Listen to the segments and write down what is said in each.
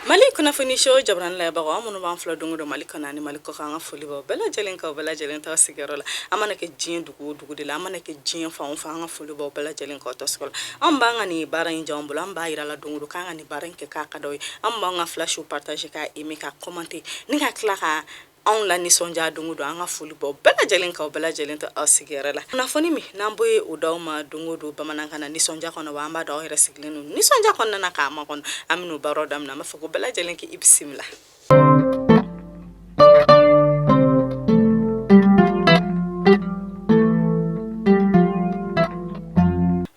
Mali kunnafoniso jabaranin labagaw aw minnu b'an filɛ don o don mali kɔnɔ ni mali kɔ an ka foli b'aw bɛɛ lajɛlen kan bɛɛ lajɛlen to aw sigiyɔrɔ la a mana kɛ diɲɛ dugu o dugu de la a mana kɛ diɲɛ fan o fan an ka foli b'aw bɛɛ lajɛlen kan tɔs la an b'an ka nin baara in jan bolo an b'a jira aw la don o don k'an ka nin baara in kɛ k'a ka ye aw b'an ka flash partager k'a aimer k'a commenter ni ka tila ka anw lanisɔndiya don o don an ka foli b'aw bɛɛ lajɛlen kan bɛɛ lajɛlen to aw sigiyɔrɔ la kunnafoni min n'an b'o ye o d'aw ma don o don bamanankan na nisɔndiya kɔnɔ wa an b'a dɔn aw yɛrɛ sigilen don nisɔndiya kɔnɔna na k'a makɔnɔ an bɛna baro daminɛ an b'a fɔ ko aw bɛɛ lajɛlen k'i bisimila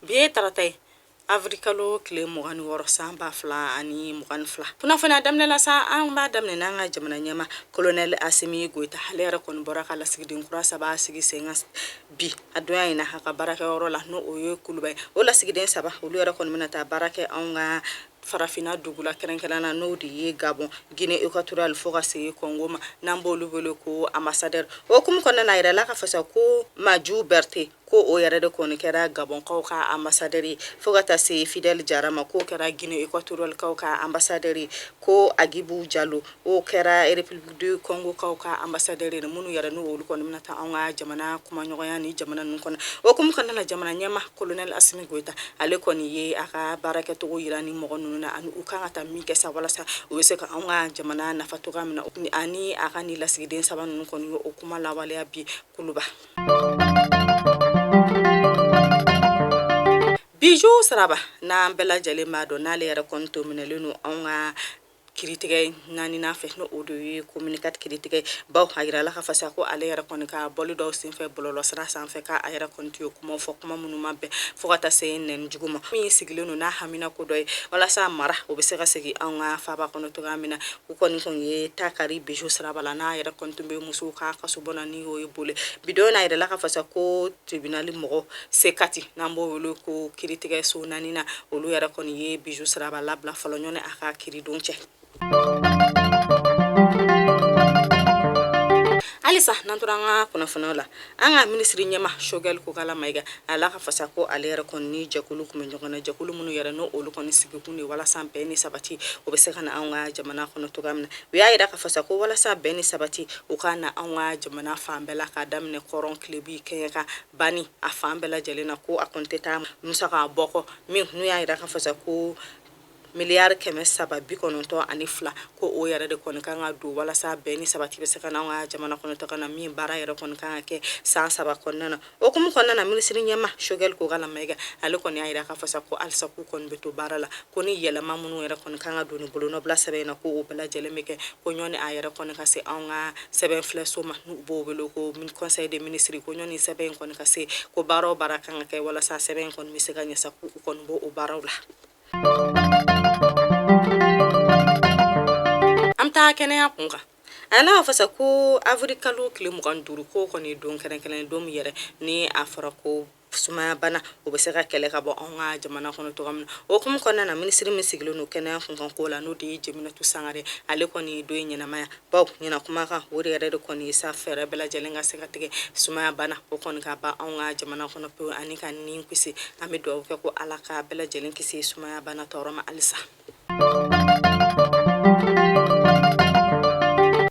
bi ye tarata ye Awirilikalo tile mugan ni wɔɔrɔ san ba fila ani mugan ni fila kunnafoni daminɛla sa an b'a daminɛ n'an ka jamana ɲɛmaa kolonɛli Asimi Goyita ale yɛrɛ kɔni bɔra ka lasigiden kura saba sigi senkan bi a don in na a ka baarakɛyɔrɔ la n' o ye kuluba ye o lasigiden saba olu yɛrɛ kɔni bɛna taa baara kɛ an ka farafinna dugu la kɛrɛnkɛrɛn na n'o de ye Gabon Guinée équatoriale fo ka se Congo ma n'an b' olu wele ko ambassadeur o kuma kɔnɔna na a jirala k'a fɔ sa ko Manju Berete ko o yɛrɛ de kɔni kɛra gabɔnkaw ka ambassadeur fo ka taa se Fidèle Jara ma k'o kɛra Guinée équatorialekaw ka ambassadeur ko Agibu Jalo o kɛra République du Congokaw ka ambassadeur minnu yɛrɛ n'o olu kɔni na taa an ka jamana kumaɲɔgɔnya nin jamana ninnu kɔnɔ o kuma kɔnɔna na jamana ɲɛmaa kolonɛli Asimi Goyita ale kɔni ye a ka baarakɛcogo jira nin mɔgɔ ninnu na ani u kan ka taa min kɛ sa walasa u bɛ se ka an ka jamana nafa cogoya min na ani a ka nin lasigiden saba ninnu kɔni o kuma lawaleya bi kuluba Biju Siraba n'an bɛɛ lajɛlen b'a dɔn n'ale yɛrɛ kɔni tun minɛlen don an ka kiritigɛ naaninan fɛ n'o de ye commune quatre kiritigɛbaw a jirala k'a fɔ sa ko ale yɛrɛ kɔni ka baro dɔw senfɛ bɔlɔlɔsira sanfɛ k'a yɛrɛ kɔni tun y'o kuma fɔ kuma minnu ma bɛn fo ka taa se nɛni jugu ma min sigilen don n'a haminako dɔ ye walasa mara o bɛ se ka segin an ka faba kɔnɔ cogoya min na u kɔni tun ye taa kari Biju Siraba la n'a yɛrɛ kɔni tun bɛ musow ka kasobon n'o ye Bole bi don na a jirala k'a fɔ sa ko tribunali mɔgɔ C quatre n'an b'o wele ko kiritigɛso naaninan olu yɛrɛ kɔni ye Biju Siraba labila fɔlɔ yanni a ka kiridon cɛ halisa n'an tora an ka kunnafoniw la an ka minisiri ɲɛmaa Sogɛli Kokala Mayiga a la k'a fɔ sa ko ale yɛrɛ kɔni ni jɛkulu kumaɲɔgɔnyana jɛkulu minnu yɛrɛ n'o olu kɔni sigikun ye walasa bɛn ni sabati o bɛ se ka na an ka jamana kɔnɔ cogoya min na u y'a jira k'a fɔ sa ko walasa bɛn ni sabati u ka na an ka jamana fan bɛɛ la k'a daminɛ kɔrɔn tilebin kɛɲɛka bani a fan bɛɛ lajɛlen na ko a kɔni tɛ taa musaka bɔ kɔ min n'u y'a jira k'a fɔ sa ko miliyari kɛmɛ saba bi kɔnɔntɔn ani fila ko o yɛrɛ de kɔni kan ka don walasa bɛn ni sabati bɛ se ka n'an ka jamana kɔnɔ cogo na min baara yɛrɛ kɔni kan ka kɛ san saba kɔnɔna na O hukumu kɔnɔna na minisiriɲɛmaa sogɛli kokala mayiga ale kɔni y'a jira k'a fɔ sa ko halisa k'u kɔni bɛ to baara la ko ni yɛlɛma minnu yɛrɛ kɔni kan ka don ni bolonɔbila sɛbɛn in na ko o bɛɛ lajɛlen bɛ kɛ ko yanni a yɛrɛ kɔni ka se anw ka sɛbɛnfilɛso ma n'u b'o wele ko conseil des ministres ko yanni sɛbɛn in kɔni ka se ko baara o baara kan ka kɛ walasa sɛbɛn in kɔni bɛ se ka ɲɛ sa k'u kɔni b'o o baaraw la an bɛ taa kɛnɛya kun kan A n'a fɔ sa ko awirilikalo tile mugan duuru ko kɔni don kɛrɛnkɛrɛnnen don yɛrɛ ni a fɔra ko sumayabana o bɛ se ka kɛlɛ ka bɔ an ka jamana kɔnɔ cogo min na o hukumu kɔnɔna na minisiri min sigilen don kɛnɛya kunkanko la n'o de ye jeminatu sangare ale kɔni don ɲɛnamayabaw ɲɛna kuma kan o de yɛrɛ de kɔni sa fɛɛrɛ bɛɛ lajɛlen ka se ka tigɛ sumayabana o kɔni ka ban an ka jamana kɔnɔ pewu ani ka ni kisi an bɛ dugawu kɛ ko ala ka bɛɛ lajɛlen kisi sumayabana tɔɔrɔ ma halisa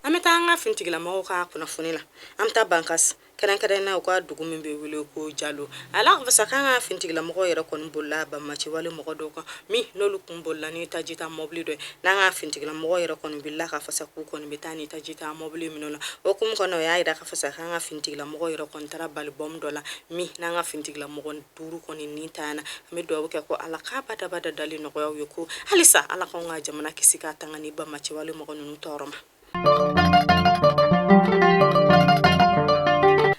an bɛ taa an ka finitigilamɔgɔ ka kunnafoni na an bɛ taa bankas kɛrɛnkɛrɛn na u ka dugu min bɛ wele ko jalo a jirala k'a fɔ sa k'an ka finitigilamɔgɔ yɛrɛ kɔni bolila banbaanciwale mɔgɔ dɔw kɔ min n'olu tun bolila ni tajitamɔbili dɔ n'an ka finitigilamɔgɔ yɛrɛ kɔni bilala k'a fɔ sa k'u kɔni bɛ taa ni tajitamɔbili minɛ u na o hukumu kɔnɔ u y'a jira k'a fɔ sa k'an ka finitigilamɔgɔ yɛrɛ kɔni taara bali bɔnbu dɔ la min n'an ka finitigilamɔgɔ duuru kɔni ni taara a na an bɛ dugawu kɛ ko ala ka badabada dali nɔgɔya u ye ko halisa ala k'anw ka jamana kisi k'a tanga ni banbaanciwale mɔgɔ ninnu tɔɔrɔ ma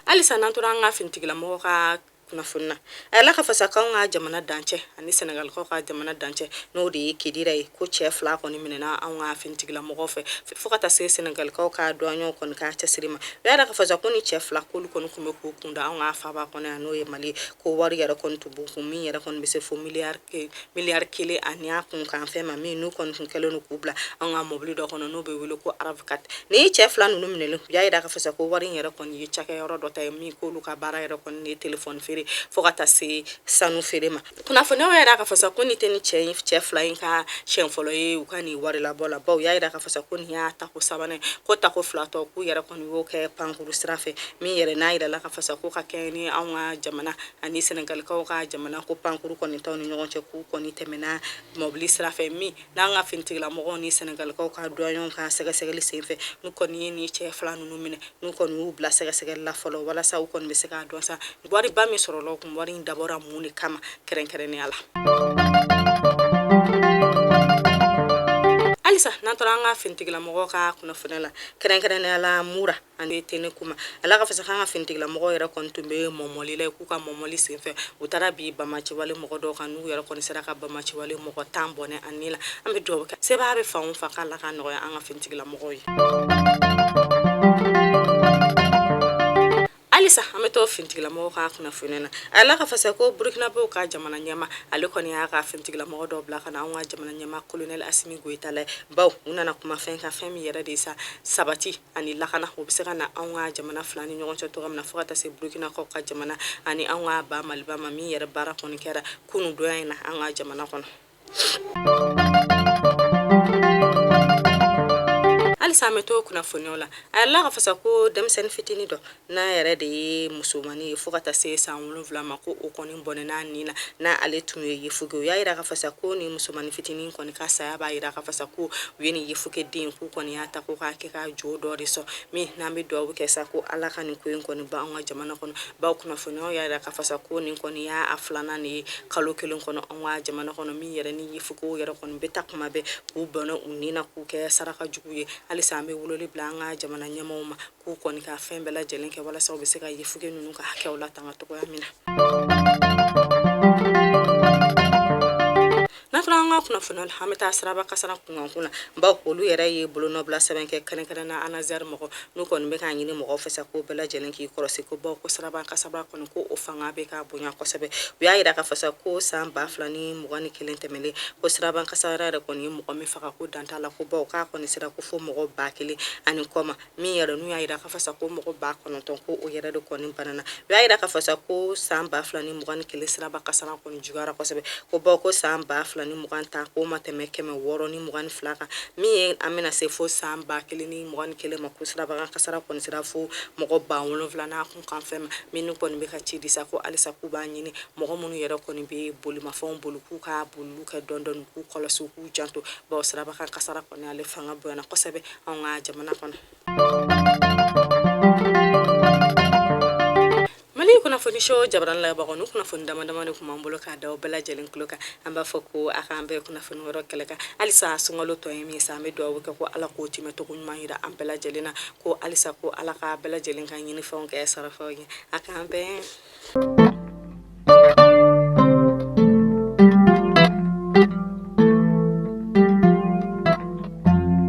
halisa n'an tora an ka finitigilamɔgɔ ka kunnafoni na a jirala k'a fɔ sa k'anw ka jamana dancɛ ani sɛnɛgalikaw ka jamana dancɛ n'o de ye kidira ye ko cɛ fila kɔni minɛna anw ka finitigilamɔgɔ fɛ fo ka taa se sɛnɛgalikaw ka duwaɲɛw kɔni ka cɛsiri ma u y'a jira k'a fɔ sa ko ni cɛ fila k'olu kɔni tun bɛ k'u kunda an ka faba kɔnɔ yan n'o ye mali ko wari yɛrɛ kɔni tun b'u kun min yɛrɛ kɔni bɛ se fo miliyari kelen ani a kunkanfɛn ma min n'u kɔni tun kɛlen don k'u bila an ka mɔbili dɔ kɔnɔ n'o bɛ wele ko rav quatre ni cɛ fila ninnu minɛlen y'a jira k'a fɔ sa ko wari in yɛrɛ kɔni ye cakɛyɔrɔ dɔ ta ye min k'olu ka baara yɛrɛ kɔni ye telefɔni feere fo ka taa se sanu feere ma kunnafoniw y'a jira k'a fɔ sa ko ni tɛ ni cɛ fila in ka siɲɛ fɔlɔ ye u ka nin wari labɔ la bawo u y'a jira k'a fɔ sa ko nin y'a tako sabanan ko tako fila tɔ k'u yɛrɛ kɔni y'o kɛ pankuru sira fɛ min yɛrɛ n'a jirala k'a fɔ sa ko ka kɛɲɛ ni anw ka jamana ani sɛnɛgalikaw ka jamana ko pankuru kɔni t'anw ni ɲɔgɔn cɛ k'u kɔni tɛmɛna mɔbili sira fɛ min n'an ka finitigilamɔgɔw ni senegalikaw ka duwanyɛw ka sɛgɛsɛgɛli senfɛ n'u kɔni ye nin cɛ fila ninnu minɛ n'u kɔni y'u bila sɛgɛsɛgɛli la fɔlɔ walasa u kɔni bɛ se k'a dɔn sa wariba min sɔrɔla u kun wari in dabɔra mun de kama kɛrɛnkɛrɛnnenya la halisa n'an taara an ka finitigilamɔgɔw ka kunnafoni la kɛrɛnkɛrɛnnenya la mura ani tɛnɛnku ma a la k'a fɔ sa k'an ka finitigilamɔgɔw yɛrɛ kɔni tun bɛ mɔmɔli la k'u ka mɔmɔli senfɛ u taara bin banbaanciwale mɔgɔ dɔw kan n'u yɛrɛ kɔni sera ka banbaanciwale mɔgɔ tan bɔnɛ u ni la an bɛ dugawu kɛ sebaa bɛ fan o fan k'ala k'a nɔgɔya an ka finitigilamɔgɔw ye halisa an bɛ to finitigilamɔgɔw ka kunnafoni na a la k'a fɔ sa ko burukinabew ka jamana ɲɛmaa ale kɔni y'a ka finitigilamɔgɔ dɔw bila ka na anw ka jamana ɲɛmaa kolonɛli asimi goyita la baw u nana kuma fɛn kan fɛn min yɛrɛ de sa sabati ani lakana o bɛ se ka na anw ka jamana fila ni ɲɔgɔn cɛ cogoya min na fo ka taa se burukinakaw ka jamana ani anw ka ba maliba ma min yɛrɛ baara kɔni kɛra kunun donya in na an ka jamana kɔnɔ halisa an bɛ to kunnafoniw la a yɛrɛ la k'a fɔ sa ko denmisɛnnin fitinin dɔ n'a yɛrɛ de ye musomannin ye fo ka taa se san wolonwula ma ko o kɔni bɔnɛn'a ni na n'ale tun ye yefuge u y'a yira k'a fɔ sa ko nin musomannin fitinin kɔni ka saya b'a yira k'a fɔ sa ko u ye nin yefuge den k'u kɔni y'a ta ko k'a kɛ ka jo dɔ de sɔn min n'an bɛ dugawu kɛ sa ko ala ka nin ko in kɔni ban an ka jamana kɔnɔ baw kunnafoniyaw y'a yira k'a fɔ sa ko nin kɔni y'a filanan de ye kalo kelen kɔnɔ an ka jamana kɔnɔ min yɛrɛ ni yefugew yɛrɛ kɔni bɛ ta kuma bɛɛ k'u bɔnɛ u ni na k'u kɛ saraka jugu ye halisa an bɛ weleli bila an ka jamana ɲɛmɔgɔw ma k'u kɔni ka fɛn bɛɛ lajɛlen kɛ walasa u bɛ se ka yefuge ninnu ka hakɛw latanga cogoya min na n'a fɔra an ka kunnafoni la an bɛ taa siraba kasara kunkanko la baw olu yɛrɛ ye bolonɔbila sɛbɛn kɛ kɛrɛnkɛrɛnna anazɛri mɔgɔ n'u kɔni bɛ k'a ɲini mɔgɔw fɛ sa ko bɛɛ lajɛlen k'i kɔlɔsi ko baw ko siraba kasara kɔni ko o fanga bɛ ka bonya kosɛbɛ u y'a yira k'a fɔ sa ko san ba fila ni mugan ni kelen tɛmɛlen ko siraba kasara yɛrɛ kɔni ye mɔgɔ min faga ko dan t'a la ko baw k'a kɔni sera ko fo mɔgɔ ba kelen ani kɔ ma min yɛrɛ n'u y'a jira k'a fɔ sa ko mɔgɔ ba kɔnɔntɔn ko o yɛrɛ de kɔni banana u y'a jira k'a fɔ sa ko san ba fila ni mugan ni kelen siraba kasara kɔni juguyara kosɛbɛ ko bawo ko san ba fila ni mugan ta k'o ma tɛmɛ kɛmɛ wɔɔrɔ ni mugan ni fila kan min ye an bɛna se fo san ba kelen ni mugan ni kelen ma ko sirabakan kasara kɔni sera fo mɔgɔ ba wolonfila n'a kunkanfɛn ma minnu kɔni bɛ ka ci di sa ko halisa k'u b'a ɲini mɔgɔ minnu yɛrɛ kɔni bɛ bolimafɛnw boli k'u ka boliliw kɛ dɔɔni dɔɔni k'u kɔlɔsi k'u janto bawo sirabakan kasara kɔni ale fanga bonyana kosɛbɛ anw ka jamana kɔnɔ mali kunnafoni sho jabaran lajɛbagaw nin kunnafoni dama dama de tun b'an bolo k'a da bɛɛ lajɛlen tulo kan an b'a fɔ ko a k'an bɛn kunnafoni wɛrɛ kɛnɛ kan halisa sunkalo tɔ ye min sa an bɛ dugawu kɛ ko ala k'o tɛmɛcogo ɲuman yira an bɛɛ lajɛlen na ko halisa ko ala k'a bɛɛ lajɛlen ka ɲinifɛnw kɛ sarafɛnw ye a k'an bɛn